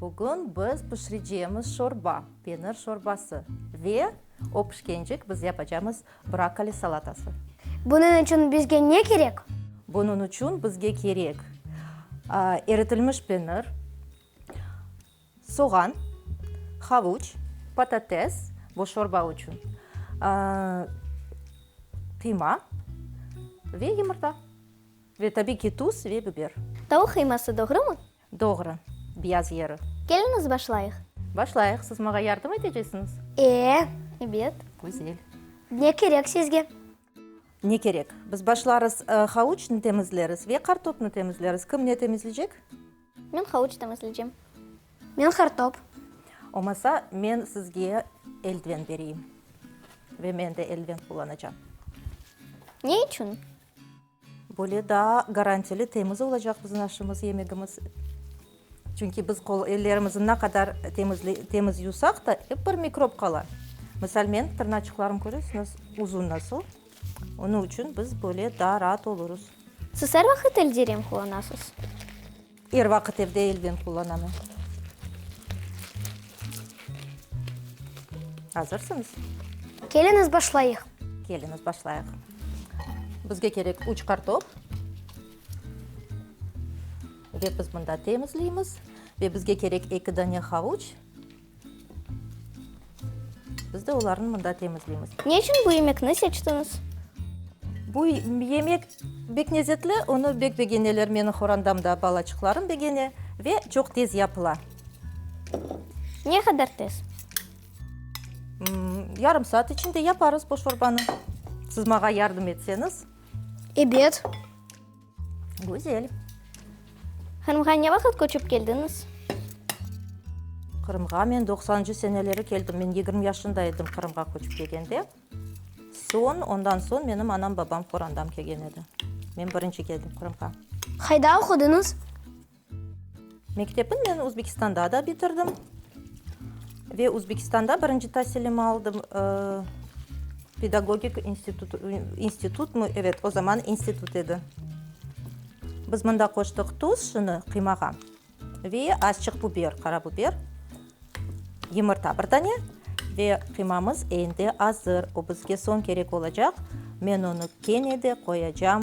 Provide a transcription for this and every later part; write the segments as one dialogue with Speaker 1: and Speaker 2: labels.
Speaker 1: Bugün
Speaker 2: biz pişireceğimiz şorba, penir şorbası ve o pişkencik biz yapacağımız brokkoli salatası. Bunıñ içün
Speaker 3: bizge ne kerek? Bunıñ içün
Speaker 2: bizge kerek, eritilmiş penir, soğan, havuç, patates, bu şorba içün, qıyma ve yumurta, ve tabiy ki, tuz ve biber. Tavuq qıyması,
Speaker 1: doğrumı? Doğru.
Speaker 2: Biyaz yeri. Keliñiz, başlayıq.
Speaker 1: Başlayıq. Siz mağa
Speaker 2: yardım etecesiñiz? E, ebet.
Speaker 1: Güzel.
Speaker 2: Ne kerek
Speaker 3: sizge? Ne
Speaker 2: kerek? Biz başlarız, havuçnı temizleriz ve qartopnı temizleriz. Kim ne temizleycek? Men havuç
Speaker 1: temizleycem. Men
Speaker 3: qartop. Olmasa,
Speaker 2: men sizge eldiven bereyim. Ve men de eldiven qullanacam.
Speaker 1: Ne içün? Böyle
Speaker 2: daa garantili, temiz olacaq bizim aşımız, yemegimiz. Çünki biz qol, ellerimizni ne qadar temizle, temiz yuvsaq da, ep bir mikrob qala. Misal, men tırnaçıqlarım köresiñiz, uzun nasıl, onıñ içün biz böyle daa raat olurız. Siz er vaqıt
Speaker 1: elde rem qullanasız? Er
Speaker 2: vaqıt evde elden qullanamın. Azırsıñız? Keliñiz
Speaker 3: başlayıq. Keliñiz başlayıq.
Speaker 2: Bizge kerek üç kartop. Ve biz mında temizleymiz. Ve bizge kerek eki dane havuç. Biz de olarnı mında temizleymiz. Ne içün bu yemekni
Speaker 1: seçtiñiz?
Speaker 2: Bu yemek bek lezetli, onı bek begeneler meniñ horandam da, balaçıqlarım begene ve çoq tez yapıla.
Speaker 1: Ne qadar tez?
Speaker 2: Yarım saat içinde yaparız bu şorbanı. Sızmağa yardım etseñiz. Ebet. Güzel.
Speaker 1: Qırımğa ne vaqıt köçip keldiñiz? Qırımğa
Speaker 2: men doqsancı seneleri keldim. Men yigirmi yaşında edim Qırımğa köçip kelgende. Soñ, ondan soñ menim anam-babam Qorandam kelgen edi. Men birinci keldim Qırımğa. Qayda oqudıñız? Mektepni men Özbekistanda da bitirdim ve Özbekistanda birinci tasilimni aldım. Pedagogik institut, institutmı? Evet, o zaman institut edi. Biz mında qoştıq tuz şunı qıymağa ve azçıq buber, qara buber, yımırta bir dane ve qıymamız endi azır. O bizge soñ kerek olacaq. Men onı kene de qoyacam.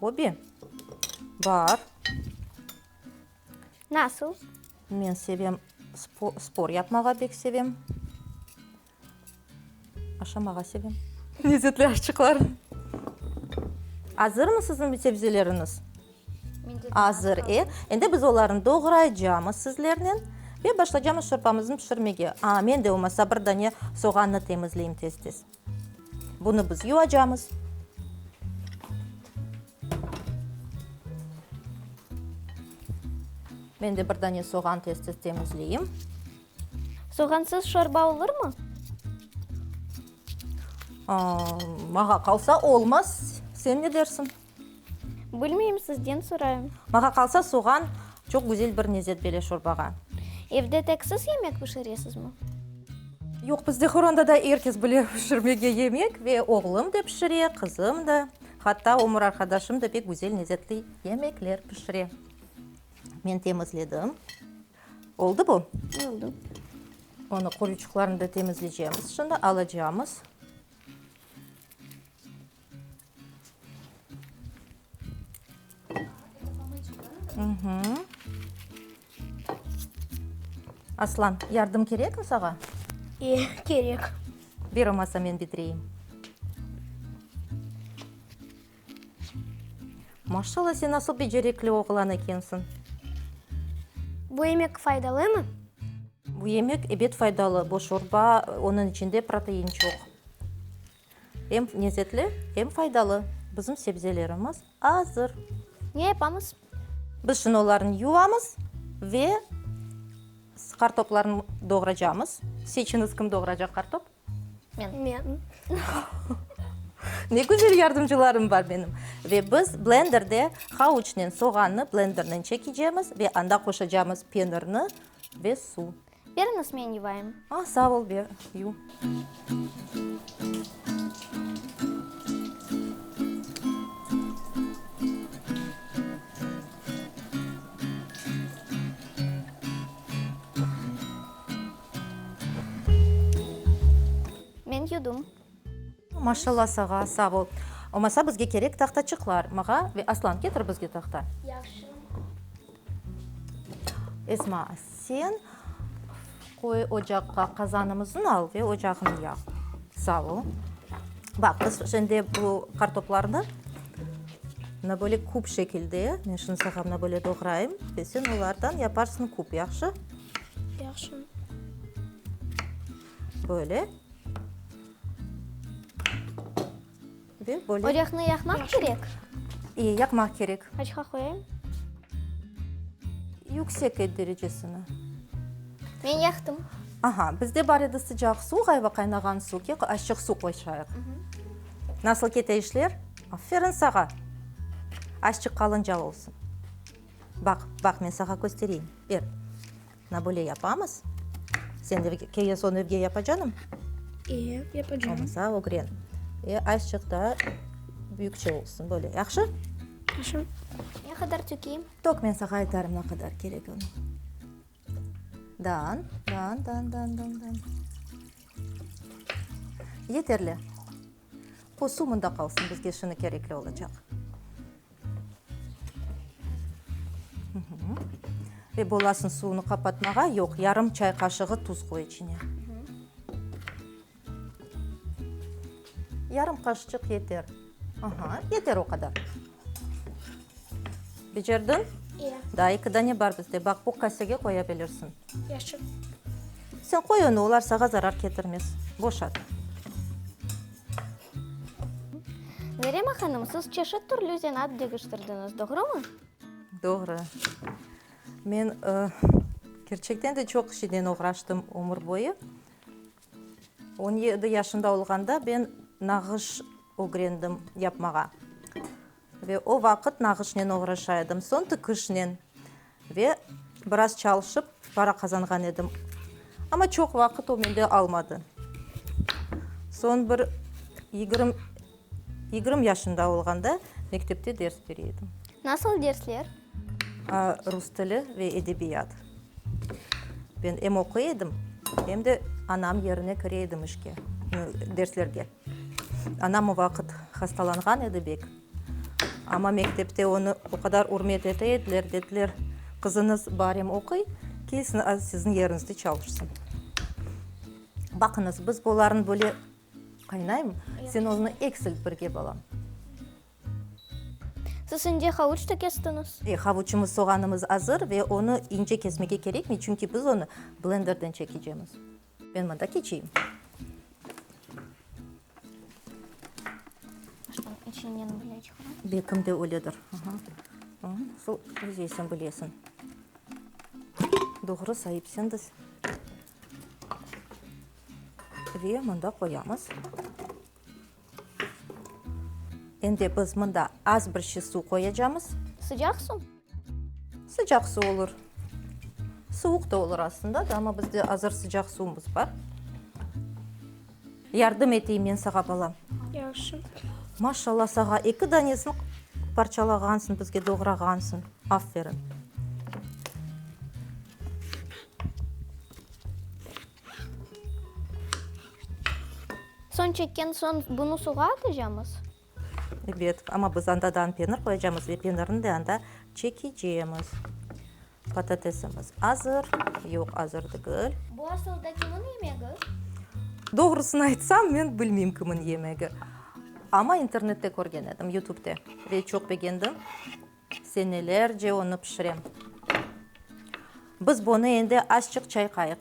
Speaker 1: Hobi?
Speaker 2: Bar.
Speaker 1: Nasıl? Men sevem,
Speaker 2: spor yapmağa bek sevem. Aşamağa sevem. Lezzetli aşçıqlar. Azırmı siziñ sebzeleriñiz? Azır, e? Endi biz olarnı doğraycamız sizlernen ve başlaycamız şorpamıznı pişirmege. A, men de olmasa bir dane soğannı temizleyim tez-tez. Bunı biz yuvacamız. Men de bir dane soğan tez-tez temizleyim.
Speaker 1: Soğansız şorba olurmı?
Speaker 2: Aa, mağa qalsa olmaz. Sen ne dersiñ? Bilmeyim,
Speaker 1: sizden sorayım. Maña qalsa, soğan
Speaker 2: çoq güzel bir lezzet bere şorbağa. Evde tek
Speaker 1: siz yemek pişiresizmi? Yoq,
Speaker 2: bizde Horanda da er kes bile pişirmege yemek ve oğlum da pişire, qızım da, hatta ömür arqadaşım da pek güzel lezzetli yemekler pişire. Men temizledim. Oldu bu? Oldu.
Speaker 1: Onı
Speaker 2: qoruyçıqlarını da temizleycemiz şimdi, alacamız. Aslan, yardım kerekmi sağa? İyi, kerek. Bir olmasa men bitireyim. Maşallah, sen nasıl becerekli oğlan ekensiñ.
Speaker 3: Bu yemek faydalımı? Bu yemek,
Speaker 2: ebet, faydalı. Bu şorba, onıñ içinde protein çoq. Em nezetli, em faydalı. Bizim sebzelerimiz azır. Ne yapamız?
Speaker 1: Biz şimdi
Speaker 2: olarnı yuvamız ve kartoplarnı doğracamız. Seçiniz, kim doğracaq kartop? Men. Men. Ne güzel yardımcılarım bar benim. Ve biz blenderde havuçnen soğannı blendernen çekecemiz ve anda qoşacamız penirni ve su. Beriñiz, men
Speaker 1: yuvayım. A, sağ ol, ber,
Speaker 2: yuv.
Speaker 1: Men yuvdım. Maşalla
Speaker 2: sağa, sağ bol. Omasa bizge kerek tahtaçıqlar. Mağa ve Aslan ketir bizge tahta.
Speaker 3: Yahşı.
Speaker 2: Esma sen qoy ocaqqa qazanımızın al ve ocağını yaq. Sağ ol. Baq biz şimdi bu qartoplarnı mına böyle küp şekilde men şimdi sağa mına böyle doğrayım ve sen olardan yaparsın küp, yahşı? Yahşı. Böyle. Ve böyle. Ocahnı yaqmaq kerek?
Speaker 1: İyi, yaqmaq
Speaker 2: kerek. Qaçqa qoyayım? Yüksek et derecesini.
Speaker 1: Men yaqtım. Aha, bizde
Speaker 2: bar edi sıcaq suv, qayva qaynağan suv. Kek, açıq suv qoyşayıq. Nasıl kete işler? Aferin sağa. Açıq qalınca olsun. Baq, baq, men sağa köstereyim. Ber. Na böyle yapamız. Sen evge, keyen soñ evge yapa canım? Eee,
Speaker 3: yapacağım. Olmasa ögren.
Speaker 2: E, azçıq da büyükçe olsun böyle. Yahşı? Хорошо.
Speaker 3: Ne qadar
Speaker 1: tökeyim? Tök, men sağa aytarım
Speaker 2: ne qadar kerek onı. Dan, dan, dan, dan, dan, dan. Yeterli. O su mında qalsın, bizge şunı kerekli olacaq. Ve bolasın suvunu qapatmağa, yoq, yarım çay qaşığı tuz qoy içine. Yarım qaşıçıq yeter. Aha, yeter o qadar. Becerdin? İe. Daa eki
Speaker 3: dane bar
Speaker 2: bizde, baq, bu kasege qoya bilirsin. Yaşı. Sen qoy onı, olar sağa zarar ketirmez. Boşat.
Speaker 1: Merema hanım, siz çeşit türlü zenaat degiştirdiñiz, doğrumı? Doğru.
Speaker 2: Men, kerçekten de, çoq işiden oğraştım ömür boyu. On yedi yaşında olğanda ben nağış ögrendim yapmağa. Ve o vaqıt nağışnen oğraşa edim, soñ tikişnen. Ve biraz çalışıp para qazanğan edim. Amma çoq vaqıt o mende almadı. Soñ bir yigirmi yaşında olğanda mektepte ders bere edim. Nasıl dersler? Rus tili ve edebiyat. Ben em oquy edim, em de anam yerine kire edim işke, derslerge. Anam o vaqıt hastalanğan edi bek, amma mektepte onı o qadar ürmet ete ediler, dediler, qızıñız bar em oquy, kelsin az siziñ yerinizde çalışsın. Baqıñız, biz olarnı böyle qaynayım, sen onı eksilt birge, balam.
Speaker 1: Siz şimdi havuç da kestiñiz? E, havuçımız, soğanımız
Speaker 2: azır ve onı ince kesmege kerekmey, çünki biz onı blenderden çekecemiz. Men mında keçeyim.
Speaker 1: Şunıñ içinden böyle çıqara. Belkim de öyledir.
Speaker 2: Aha. Hı, Nasıl özeysen bilesin. Doğru saipsiñiz. Ve mında qoyamız. Endi biz mında az bir şey suv qoyacamız. Sıcaq suv?
Speaker 1: Sıcaq
Speaker 2: suv olur. Suvuq da olur aslında da, amma bizde azır sıcaq suvumız bar. Yardım eteyim men sağa, balam? Yahşı.
Speaker 3: Maşallah
Speaker 2: sağa, eki danesini parçalağansıñ, bizge doğrağansıñ. Aferin.
Speaker 1: Soñ çekken soñ bunı suğa atacamız. Ebet,
Speaker 2: amma biz anda da penir qoyacamız ve penirni de anda çekecemiz. Patatesimiz azır, yoq, azır degil. Bu asılda kimniñ
Speaker 1: yemegi?
Speaker 2: Doğrusını aytsam,
Speaker 1: men
Speaker 2: bilmeyim kimniñ yemegi. Amma internette körgen edim, Youtubede ve çoq begendim. Senelerce onı pişirem. Biz bunı endi azçıq çayqayıq.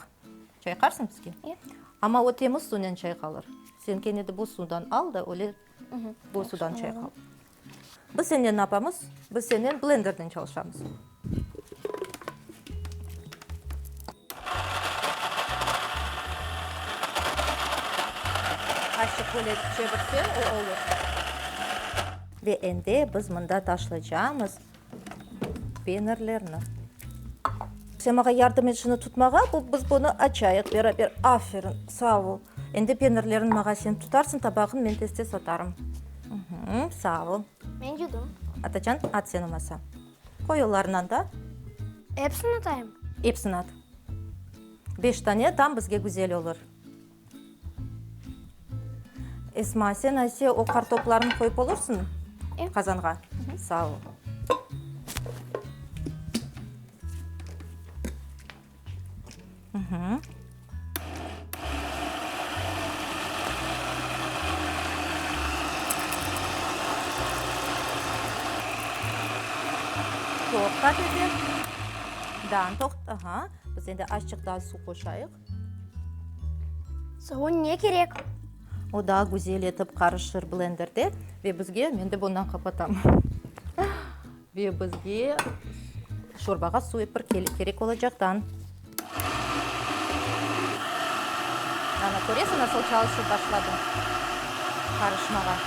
Speaker 2: Çayqarsıñ bizge? Ya. Amma o
Speaker 1: temiz
Speaker 2: suvnen çayqalır. Sen kene de buz suvdan al da öyle buz suvdan çayqal. Biz senden ne yapamız? Biz senden blenderden çalışamız. Azçıq böyle çevirsen o olur. Ve endi biz mında taşlaycağımız peynirlerni. Sen maña yardım et şunı tutmağa, bu, biz bunı açayıq beraber. Aferin, sağ ol. Endi peynirlerin maña sen tutarsıñ, tabağın men tez-tez atarım. Mhü, sağ ol. Men yudım.
Speaker 1: Atacan, at sen
Speaker 2: olmasa. Qoy olarınan da. Epsini
Speaker 3: atayım? Epsini at.
Speaker 2: Beş tane tam bizge güzel olur. Esma, sen ayse o qartoplarnı qoyıp olursuñ qazanğa? Sağ ol. Toqta, dedi. Daa, toqta. Biz endi azçıq daa suv qoşayıq.
Speaker 3: Savun ne kerek? O daa
Speaker 2: güzel etip qarışır blenderde ve bizge, men de bundan qapatam, ve bizge şorbağa suv epir kerek olacaqdan. Ana, köresiñ, nasıl çalışıp başladı qarışmağa.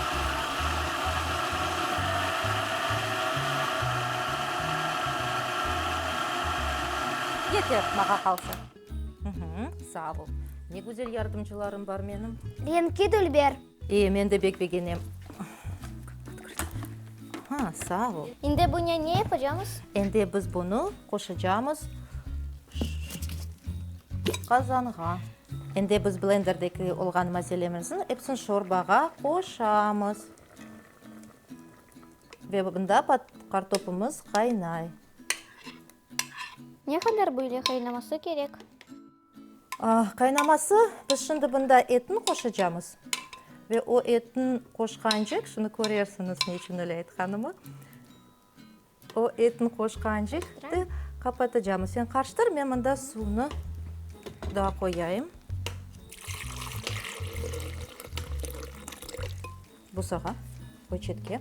Speaker 2: Yeter, mağa qalsa. Sağ ol. Ne güzel yardımcılarım bar menim. Reñki dülber.
Speaker 3: E, men de bek
Speaker 2: begenem. Ha, sağ ol. İndi buña ne
Speaker 1: yapacamız? Endi biz bunı
Speaker 2: qoşacamız qazanğa. Endi biz blenderdeki olğan malzememizin epsin şorbağa qoşamız. Ve bunda kartopumız qaynay.
Speaker 1: Ne qadar böyle qaynaması kerek? Qaynaması,
Speaker 2: biz şimdi bunda etni qoşacamız. Ve o etni qoşqancıq, şimdi körersiñiz ne içün öyle aytqanımı. O etni qoşqancıq qapatacamız. Sen qarıştır, men mında suvnı daa qoyayım. Busağa, poçetke.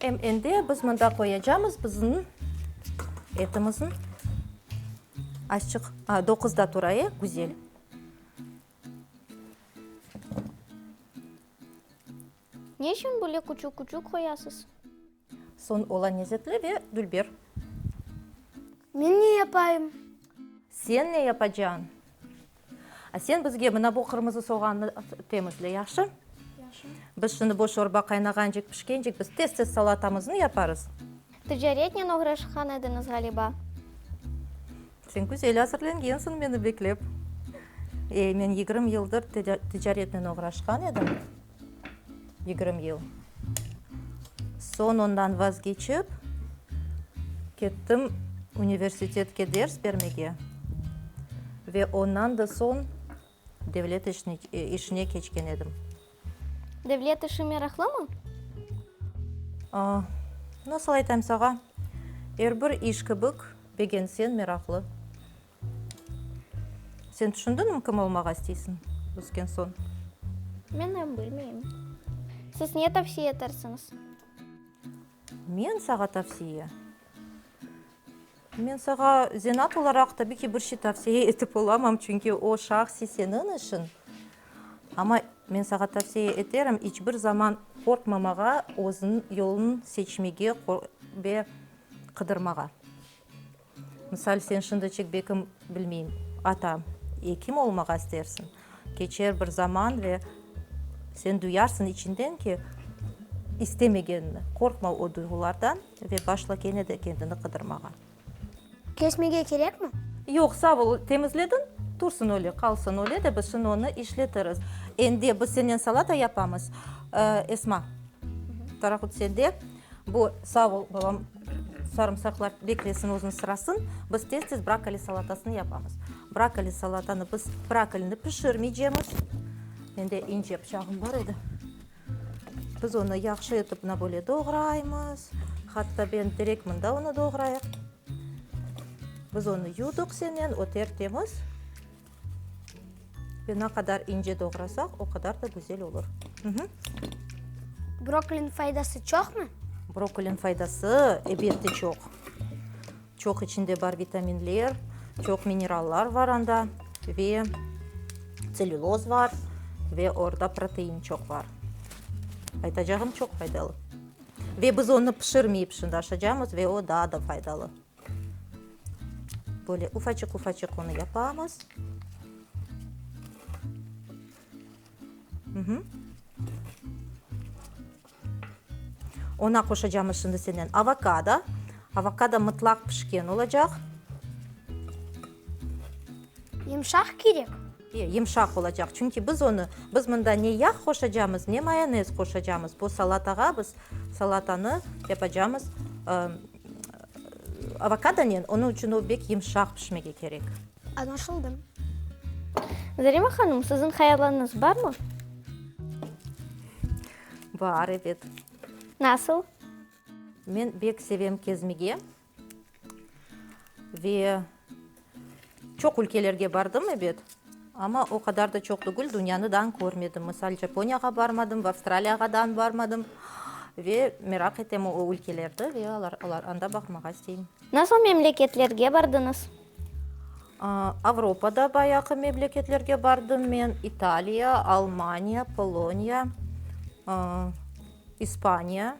Speaker 2: Em endi biz mında qoyacamız biziñ etimiziñ aşçıq doquzda turayı güzel.
Speaker 1: Ne içün böyle küçük-küçük qoyasız? Soñ
Speaker 2: ola nezetli ve dülber.
Speaker 3: Men ne yapayım? Sen
Speaker 2: ne yapacağıñ? Sen bizge mına bu qırmızı soğannı temizle, yahşı? Yahşı.
Speaker 3: Biz şimdi bu
Speaker 2: şorba qaynağancik, pişkencik biz tez-tez salatamıznı yaparız. Ticaretnen
Speaker 1: oğraşqan ediñiz, ğaliba?
Speaker 2: Sen güzel azırlengensiñ meni beklep. Ey, men yigirmi yıldır ticaretnen oğraşqan edim. yigirmi yıl. Soñ ondan vazgeçip, kettim universitetke ders bermege ve ondan da soñ devlet işine keçken edim. Devlet
Speaker 1: işi meraqlımı?
Speaker 2: Nasıl aytayım sağa, er bir iş kibik, begenseñ meraqlı. Sen tüşündiñmi kim olmağa isteysiñ ösken soñ? Men
Speaker 1: em bilmeyim. Siz ne tavsiye etersiñiz?
Speaker 2: Men sağa tavsiye? Men sağa zenaat olaraq tabiy ki bir şey tavsiye etip olamam, çünki o şahsiy seniñ işiñ. Amma men sağa tavsiye eterim, iç bir zaman qorqmamağa, özüniñ yoluñ seçmege ve qıdırmağa. Misal, sen şimdi Çekbekim, bilmeyim, ata, ekim olmağa istersiñ. Keçer bir zaman ve sen duyarsıñ içiñden ki, istemegenini. Qorqma o duyğulardan ve başla kene de kendini qıdırmağa.
Speaker 3: Kesmege kerekmi? Yoq, sağ ol,
Speaker 2: temizlediñ, tursın öyle, qalsın öyle de biz şimdi onı işletiriz. Endi biz senden salata yapamız. Esma, parahut sende. Bu, sağ ol, balam. Sarımsaqlar beklesin özüniñ sırasın. Biz tez-tez brokkoli salatasını yapamız. Brokkoli salatanı biz brokkolini pişirmeycemiz. Mende ince bıçağım bar edi. Biz onı yahşı etip mına böyle doğraymız. Hatta ben direkt mında onı doğrayım. Biz onı yudıq senen, ötertemiz. Ve ne qadar ince doğrasaq, o qadar da güzel olur.
Speaker 3: Brokkoliniñ faydası çoqmı? Brokkoliniñ faydası,
Speaker 2: elbette, çoq. Çoq içinde bar vitaminler, çoq minerallar bar anda ve tselluloz bar ve orda protein çoq bar. Aytacağım, çoq faydalı. Ve biz onı pişirmeyip şundaşacamız ve o daa da faydalı. Böyle ufacık-ufacık onı yapamız. Ona qoşacağımız şimdi senden avokado. Avokado mıtlaq pişken olacaq.
Speaker 3: Yumşaq kerek. Yımşaq
Speaker 2: olacaq, çünki biz onı, biz mında ne yağ qoşacamız, ne mayonez qoşacamız, bu salatağa biz salatanı yapacamız avokadonen, onıñ içün o bek yımşaq pişmege kerek. Añlaşıldı.
Speaker 1: Zarima hanım, siziñ hayallarıñız barmı?
Speaker 2: Bar, ebet. Nasıl? Men bek sevem kezmege. Ve çoq ülkelerge bardım, ebet, amma o qadar da çoq tügül dünyanı dan körmedim. Misal, Japoniyağa barmadım, ve Avstraliyağa dan barmadım. Ve meraq etem o ülkelerdi ve anda baqmağa isteyim. Nasıl memleketlerge
Speaker 1: bardıñız? Avropada
Speaker 2: bayağı memleketlerge bardım men, İtaliya, Almaniya, Poloniya, İspaniya.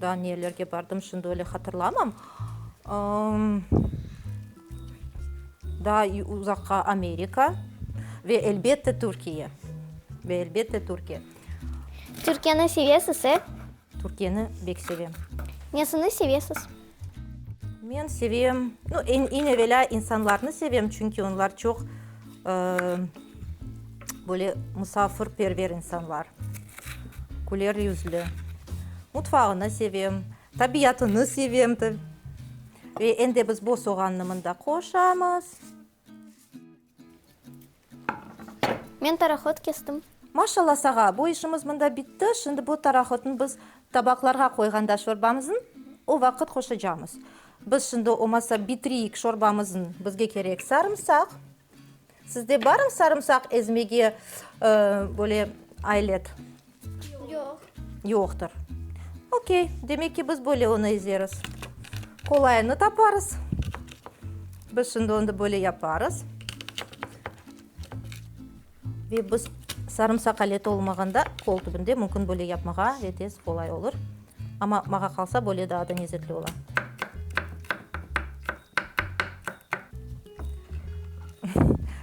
Speaker 2: Daa nelerge bardım, şimdi öyle hatırlamam. Daa uzaqqa Amerika ve elbette Türkiye. Ve elbette Türkiye.
Speaker 1: Türkiyeni sevesiz, e? Türkiyeni
Speaker 2: bek sevem. Nesini
Speaker 1: sevesiz?
Speaker 2: Men sevem, no, eñ evelâ insanlarnı sevem, çünki onlar çoq böyle musafirperver insanlar, küler yüzlü. Mutfağını sevem, tabiatını sevem tabi. Ve em de biz boz soğannı mında qoşamız.
Speaker 1: Men parahod kestim. Maşalla sağa,
Speaker 2: bu işimiz mında bitti, şimdi bu tarahodnı biz tabaqlarğa qoyğanda şorbamızın, o vaqıt qoşacamız. Biz şimdi omasa bitireyik şorbamızın, bizge kerek sarımsaq. Sizde barmı sarımsaq ezmege böyle aylet? Yoq.
Speaker 3: Yoqtır.
Speaker 2: Okey, demek ki, biz böyle onı ezeris. Qolayını taparız. Biz şimdi onı böyle yaparız. Ve biz sarımsaq aleti olmağanda qol tübünde mümkün böyle yapmağa ve tez qolay olur. Amma mağa qalsa böyle daa da nezzetli ola.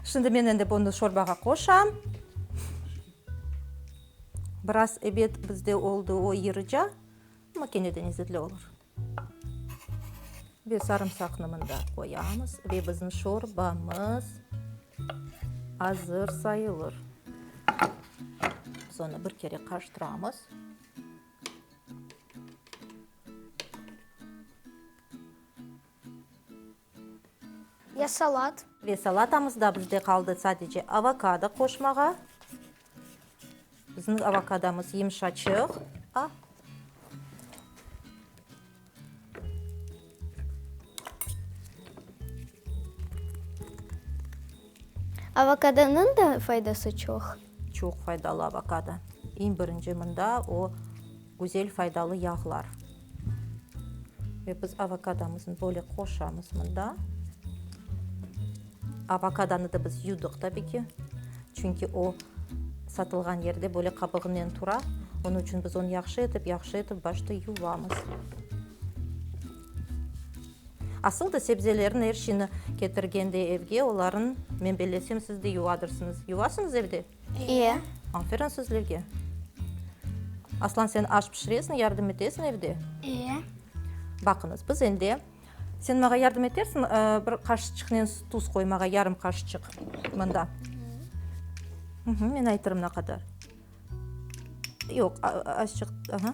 Speaker 2: Şimdi men endi bunı şorbağa qoşam. Biraz ebet bizde oldı o yırıca, amma kene de nezzetli olur. Ve sarımsaqnı mında qoyamız ve bizim şorbamız azır sayılır. Biz onı bir kere qarıştıramız.
Speaker 3: Ya salat. Ve salatamızda
Speaker 2: bizde qaldı sadece avokado qoşmağa. Bizniñ avokadomız yımşaçıq. A.
Speaker 1: Avokadonıñ da faydası çoq. Çoq faydalı
Speaker 2: avokado. Eñ birinci mında o güzel faydalı yağlar. Ve biz avokadomıznı böyle qoşamız mında. Avokadanı da biz yudıq tabi ki. Çünki o satılğan yerde böyle qabığınen tura. Onıñ içün biz onı yahşı etip, yahşı etip başta yuvamız. Asıl da sebzelerin er şiñi ketirgende evge olarnı menbelesem siz de yuvadırsıñız. Yuvasıñız evde? İe.
Speaker 1: Aferin sizlerge.
Speaker 2: Aslan sen aş pişiresiñ, yardım etesiñ evde? İe. Baqıñız, biz ende, sen maña yardım etersiñ bir qaşıçıqnen tuz qoymağa, yarım qaşıçıq mında? Men aytırım ne qadar. Yoq, azcıq, aha.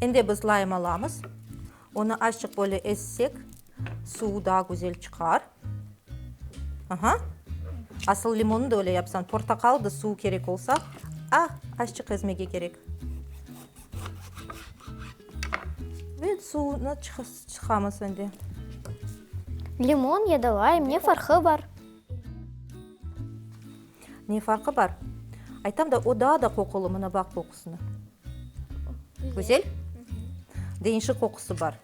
Speaker 2: Endi biz laym alamız. Onı azçıq böyle ezsek, suvu daa güzel çıqar. Aha. Asıl limonı da öyle yapsan, portaqal da suvu kerek olsa, a, azçıq ezmege kerek. Ve suvunı çıqamız endi.
Speaker 1: Limon ya da laym, ne farqı bar?
Speaker 2: Ne farqı bar? Aytam da, o daa da qoqulu, mına baq, qoqusına. Güzel. Deñişik qoqusı bar.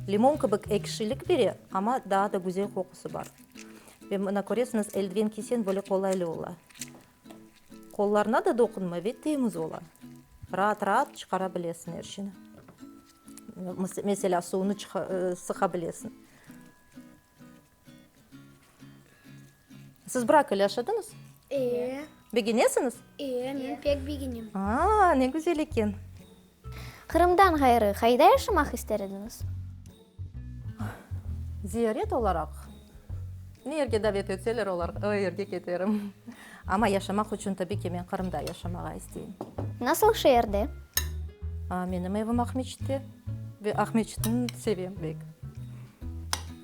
Speaker 2: Limon kibik ekşilik bere, amma daa da güzel qoqusı bar. Ve mına köresiñiz, eldiven kiyseñ böyle qolaylı ola. Qollarına da doqunmay ve temiz ola. Raat-raat çıqara bilesiñ er şeyni. Meselâ, suvunı sıqa bilesiñ. Siz bırak ile yaşadınız? Ee. Begenesiñiz? Ee, men
Speaker 3: pek begenem. Aa, ne güzel
Speaker 2: eken.
Speaker 1: Qırımdan ğayrı qayda yaşamaq ister ediñiz?
Speaker 2: Ziyaret olaraq, ne yerge davet etseler, o yerge keterim. Amma yaşamaq içün, tabiy ki, men Qırımda yaşamağa isteyim. Nasıl şeerde? Menim evim Aqmescitte ve Aqmescitni sevem pek.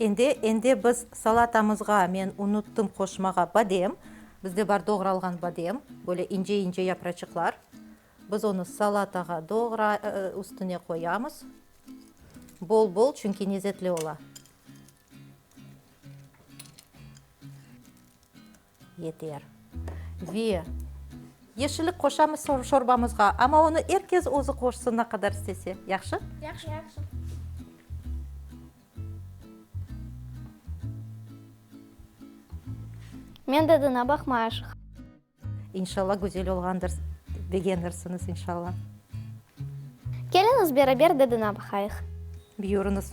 Speaker 1: Endi, endi
Speaker 2: biz salatamızğa, men unuttım qoşmağa, badem. Bizde bar doğralğan badem, böyle ince-ince yapraçıqlar. Biz onı salatağa doğra, üstüne qoyamız. Bol-bol, çünki nezetli ola. Yeter. Ve yeşillik qoşamız şorbamızğa, amma onı er kes özü qoşsın, ne qadar istese. Yahşı? Yahşı. Yahşı.
Speaker 1: Men dadına baqmayışıq.
Speaker 2: İnşalla güzel olğandır, begenirsiñiz, inşalla.
Speaker 1: Keliñiz, beraber dadına baqayıq. Buyurıñız.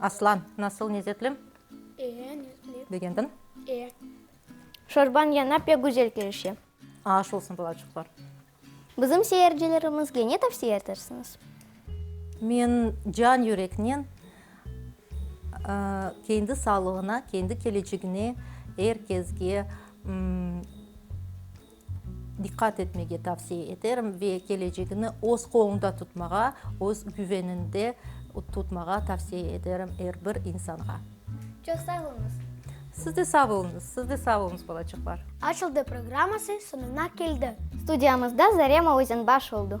Speaker 2: Aslan, nasıl nezetli? E, nezetli.
Speaker 3: Begendiñ?
Speaker 2: E.
Speaker 1: Şorbañ yaña pek güzel kelişe. Aş olsun,
Speaker 2: balaçıqlar. Bizim
Speaker 1: seyircilerimizge ne tavsiye etersiñiz? Men
Speaker 2: can yüreknen kendi sağlığına, kendi kelecegine er kezge diqqat etmege tavsiye eterim ve kelecegini öz qoluñda tutmağa, öz güveniñde tutmağa tavsiye eterim er bir insanğa. Çoq sağ
Speaker 3: oluñız. Siz de sağ
Speaker 2: oluñız, siz de sağ oluñız, balacıqlar. Açıldı
Speaker 1: programması soñuna keldi. Studiyamızda
Speaker 3: Zarema
Speaker 1: Özenbaş
Speaker 3: oldu.